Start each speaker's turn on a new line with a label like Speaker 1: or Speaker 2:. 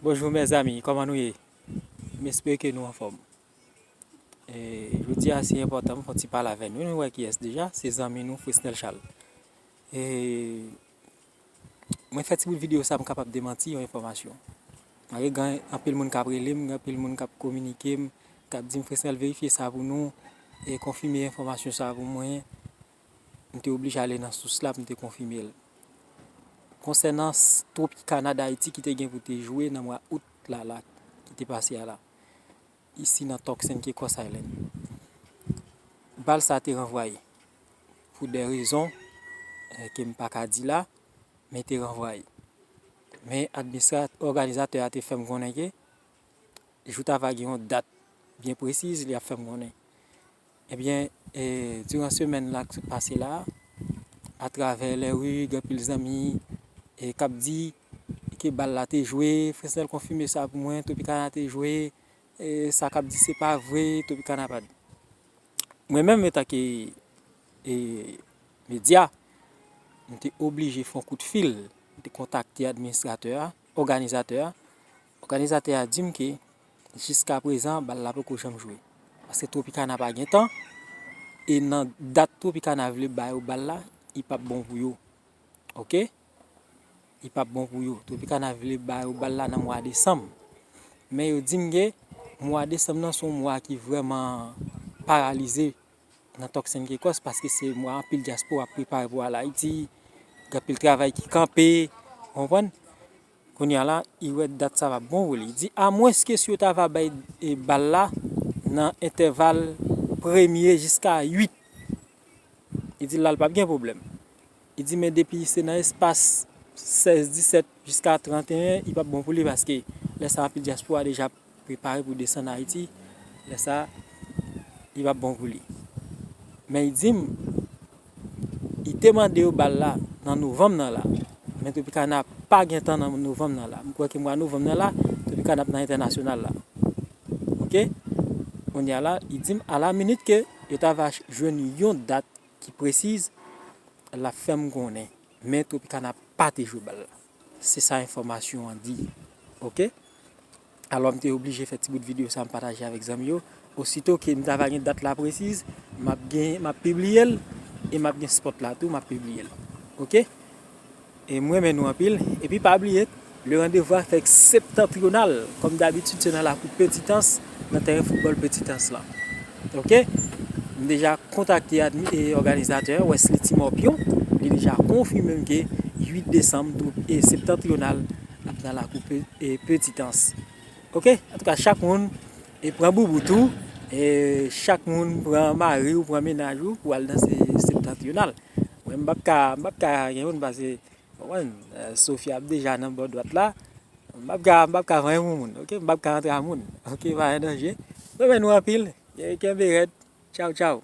Speaker 1: Bonjou mèzami kòman nou ye m espere ke nou anfòm jodi a se enpòtan m fon ti pale avè nou nou wè kiyès deja se zanmi nou Fresnel Charles mwen fè ti bout videyo sa m kapab demanti yon enfòmasyon malgre gen anpil moun kap rele m gen anpil moun kap kominike m kap di m Fresnel verifye sa pou nou e konfime enfòmasyon sa pou mwen M te oblije ale nan sous la pou m te konfime l. Konsènan Tropicana Dayiti ki te gen pou te jwe nan mwa Out la la ki te pase a la, isi nan Tucson Caicos Island, bal sa te ranvwaye. Pou dè rezon ke m pa ka di la, men te ranvwaye. Men administra, òganizatè a te fè m konnen ke jou ta va gen yon dat byen presiz li ap fè m konnen. Ebyen diran semèn la k sot pase la a travè lè ri gen anpil zanmi k ap di ke bal la te jwe, Fresnel konfime sa pou mwen, Tropicana te jwe, sa k ap di se pa vre, Tropicana pa di. Mwen menm etanke medya, m te oblije fè yon kout fil, m te kontakte administratè a, òganizatè a. Òganizatè a di m ke jiska prezan bal la poko janm jwe paske Tropicana pa gen tan e nan dat Tropicana vle ba yo bal la i pap bon pou yo ok i pap bon pou yo Tropicana vle ba yo bal la nan mwa desanm men yo di m ke mwa desanm nan se yon mwa ki vrèman paralize nan Tuckson Caicos paske se mwa anpil dyaspora ap prepare pou al Ayiti gen anpil travay ki kanpe ou konprann. Kounya la I wè dat sa va bon wi li di a mwens ke si yo ta va bay bal la nan entèval premye jiska 8 li di la li pap gen pwoblèm li di men depi se nan espas 16 17 jiska 31 li pap bon pou li paske lè sa anpil dyaspora deja ap prepare pou desann Ayiti, lè sa li pap bon pou li. Men li dim li te mande yo bal la nan novanm nan la, men Tropicana pa gentan nan novanm nan la. M kwè ke mwa novanm nan la Tropicana ap nan entènasyonal la. Ok, kounye a la li dim a la minit ke yo ta va jwenn yon dat ki presiz lap fèm konnen. Men Tropicana pa te jwe bal la. Se sa enfòmasyon an di. Ok. Alò m te oblije fè ti bout videyo sa m pataje avèk zanmi yo. Osito ke m ta va gen dat la presiz, m ap gen, m ap pibliye l e m ap gen spot la tou m ap pibliye l. Ok. E m renmen nou anpil. Epi pa bliye, le randevou a fèk septantrional. Kòm dabitid se nan lakou Petitans, nan tèren foutbòl Petitans lan. Ok m deja kontakte òganizatè a Wesley Timorpio li deja konfime m ke 8 desanm twoup septentrional ap nan lakou petit ans ok antouka chak moun pran boubout ou chak moun pran mari ou pran mennaj ou pou al danse septentrional mwen m pap ka gen moun pase Konprann? Sophie ap deja nan bò dwat la. M pap ka, m pap ka vanyan pou moun. Ok, m pap ka antre a moun. Ok, pa gen danje. Renmen nou anpil. Kenbe rèd. Tchaw tchaw.